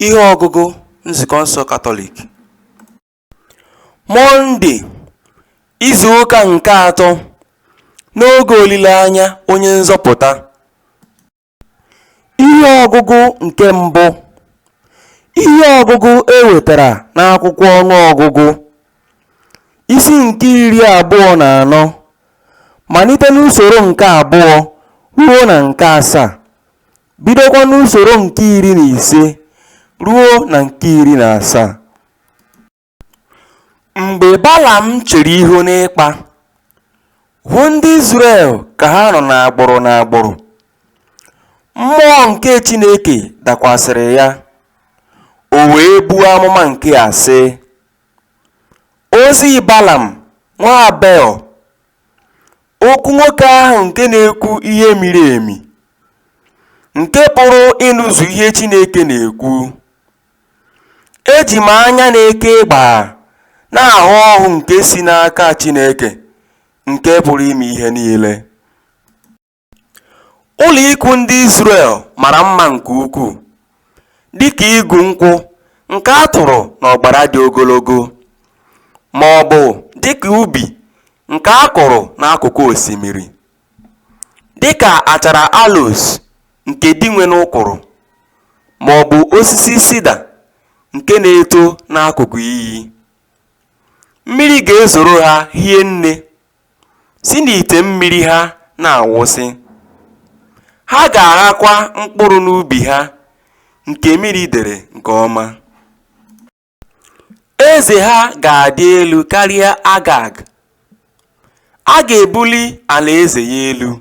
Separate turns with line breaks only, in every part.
Ihe ọgụgụ Nzukọ nsọ Katọlik Mọnde, izu ụka nke atọ n'oge olileanya onye nzọpụta. Ihe ọgụgụ nke mbụ Ihe ọgụgụ e wetara n'akwụkwọ ọnụ ọgụgụ isi nke iri abụọ na anọ malite n'usoro nke abụọ ruo na nke asaa bidokwa n'usoro nke iri na ise ruo na nke iri na asaa mgbe balam chere ihu n'ịkpa hụ ndị Izrel ka ha nọ n'agbụrụ n'agbụrụ mmụọ nke Chineke dakwasịrị ya o wee buo amụma nke a sị ozi Balam nwa Beọ Okwu nwoke ahụ nke na-ekwu ihe miri emi, nke pụrụ ịnụzu ihe Chineke na-ekwu. Eji m anya na-eke gbaa na-ahụ ọhụ nke si n'aka Chineke nke pụrụ ime ihe niile. Ụlọikwuu ndị Izrel mara mma nke ukwuu, dị ka igu nkwụ nke a tụrụ n'ọgbara dị ogologo, ma ọ bụ dị ka ubi nke a kụrụ n'akụkụ osimiri, dị ka achara aloes nke Dinwenụ kụrụ, ma ọ bụ osisi sida nke na-eto n'akụkụ iyi. Mmiri ga-ezoro ha hie nne. si n'ite mmiri ha na-awụsị, ha ga-aghakwa mkpụrụ n'ubi ha nke mmiri dere nke ọma. Eze ha ga-adị elu karịa Agag, a ga-ebuli alaeze ya elu.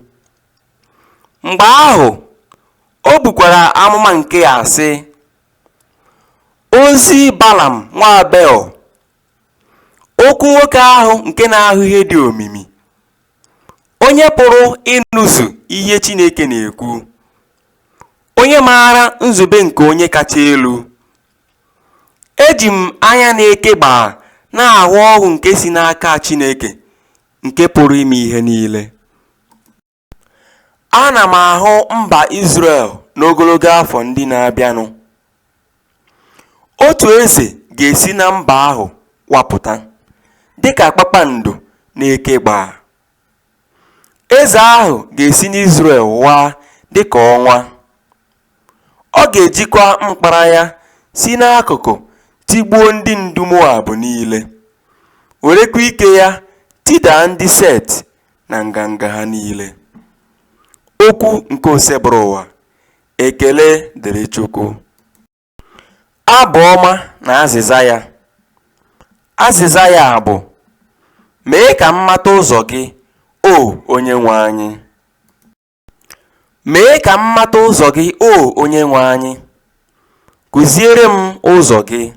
Mgbe ahụ, o bukwara amụma nke a sị, Ozi Balam nwa Beọ Okwu nwoke ahụ nke na-ahụ ihe dị omimi, onye pụrụ ịnụzu ihe Chineke na-ekwu, onye maara nzube nke Onye Kacha Elu. Eji m anya na-eke gbaa na-ahụ ọhụ nke si n'aka Chineke nke pụrụ ime ihe niile. Ana m ahụ mba Izrel n'ogologo afọ ndị na-abịanụ. Otu eze ga-esi na mba ahụ wapụta, dịka kpakpando na-eke gbaa. Eze ahụ ga-esi n'Izrel waa dịka ọnwa. Ọ ga-ejikwa mkpara ya si n'akụkụ tigbuo ndị ndu Moab niile, werekwa ike ya tidaa ndị Set na nganga ha niile. Okwu nke Osebụrụwa. Ekele dịrị Chukwu. Abụ ọma na azịza ya. Azịza ya bụ, Mee ka m mata ụzọ gị, O Onyenwe anyị. Mee ka m mata ụzọ gị, O Onyenwe anyị, kụziere m ụzọ gị.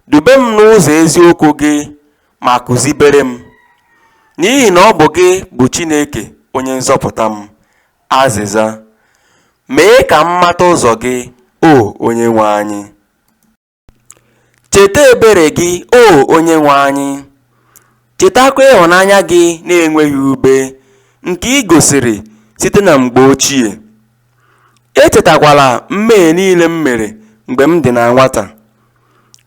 Dube m n'ụzọ eziokwu gị ma kụzibere m, n'ihi na ọ bụ gị bụ Chineke onye nzọpụta m. Azịza. Mee ka m mata ụzọ gị, O Onyenwe anyị. Cheta ebere gị, O Onyenwe anyị, chetakwa ịhụnanya gị na-enweghị ube nke i gosiri site na mgbe ochie. Echetakwala mmehie niile m mere mgbe m dị na nwata,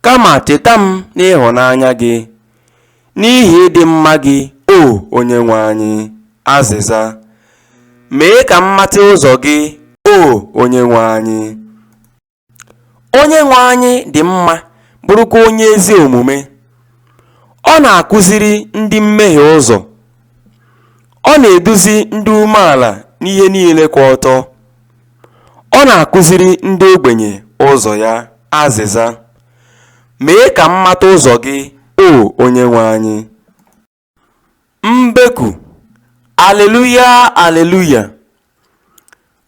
kama cheta m n'ịhụnanya gị, n'ihi ịdị mma gị, O Onyenwe anyị. Azịza. Mee ka m mata ụzọ gị, O Onyenwe anyị. Onyenwe anyị dị mma, bụrụkwa onye ezi omume. Ọ na-akụziri ndị mmehie ụzọ. Ọ na-eduzi ndị umeala n'ihe niile kwụ ọtọ. Ọ na-akụziri ndị ogbenye ụzọ ya. Azịza. Mee ka m mata ụzọ gị, O Onyenwe anyị. Mbeku, Aleluya, Aleluya!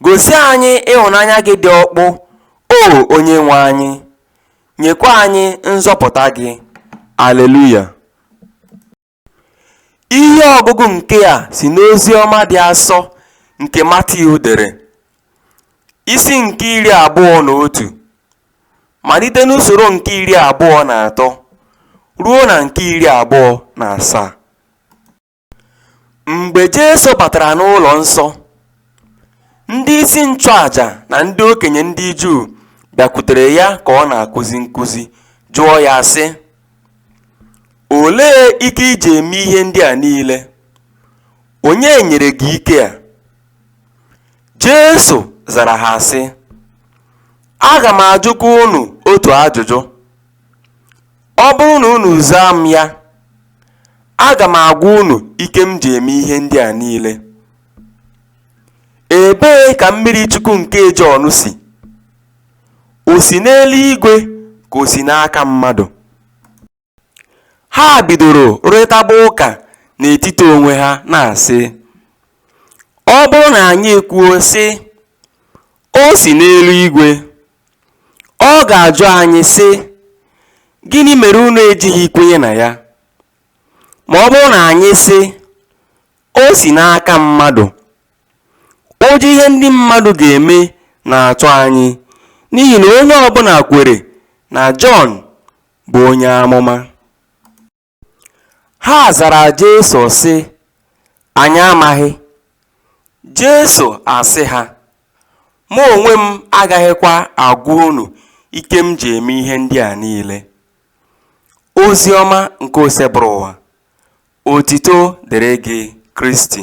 Gosi anyị ịhụnanya gị dị ọkpụ, O Onyenwe anyị, nyekwa anyị nzọpụta gị. Aleluya! Ihe ọgụgụ nke a si n'ozi ọma dị asọ nke Matiu dere, isi nke iri abụọ na otu. malite n'usoro nke iri abụọ na atọ ruo na nke iri abụọ na asaa mgbe Jesu batara n'ụlọ nsọ ndị isi nchụaja na ndị okenye ndị Juu bịakwutere ya ka ọ na-akụzi nkụzi jụọ ya sị olee ike i ji eme ihe ndị a niile onye nyere gị ike a Jesu zara ha sị, Aga m ajụkwa unu otu ajụjụ. Ọ bụrụ na unu zaa m ya, aga m agwa unu ike m ji eme ihe ndị a niile. Ebee ka mmiri chukwu nke Jọn si? O si n'eluigwe ka o si n'aka mmadụ? Ha bidoro rụrịtaba ụka n'etiti onwe ha na-asị, Ọ bụrụ na anyị ekwuo, sị, O si n'eluigwe, ọ ga-ajụ anyị, sị, Gịnị mere unu ejighị kwenye na ya? Ma ọ bụrụ na anyị sị, O si n'aka mmadụ, ụjọ ihe ndị mmadụ ga-eme na-atụ anyị n'ihi na onye ọbụla kwere na Jọn bụ onye amụma. Ha zara Jesu sị, Anyị amaghị. Jesu asị ha, Mụ onwe m agaghịkwa agwa unu ike m ji eme ihe ndị a niile. Ozi ọma nke Osebụrụwa. Otito dịrị gị Kristi.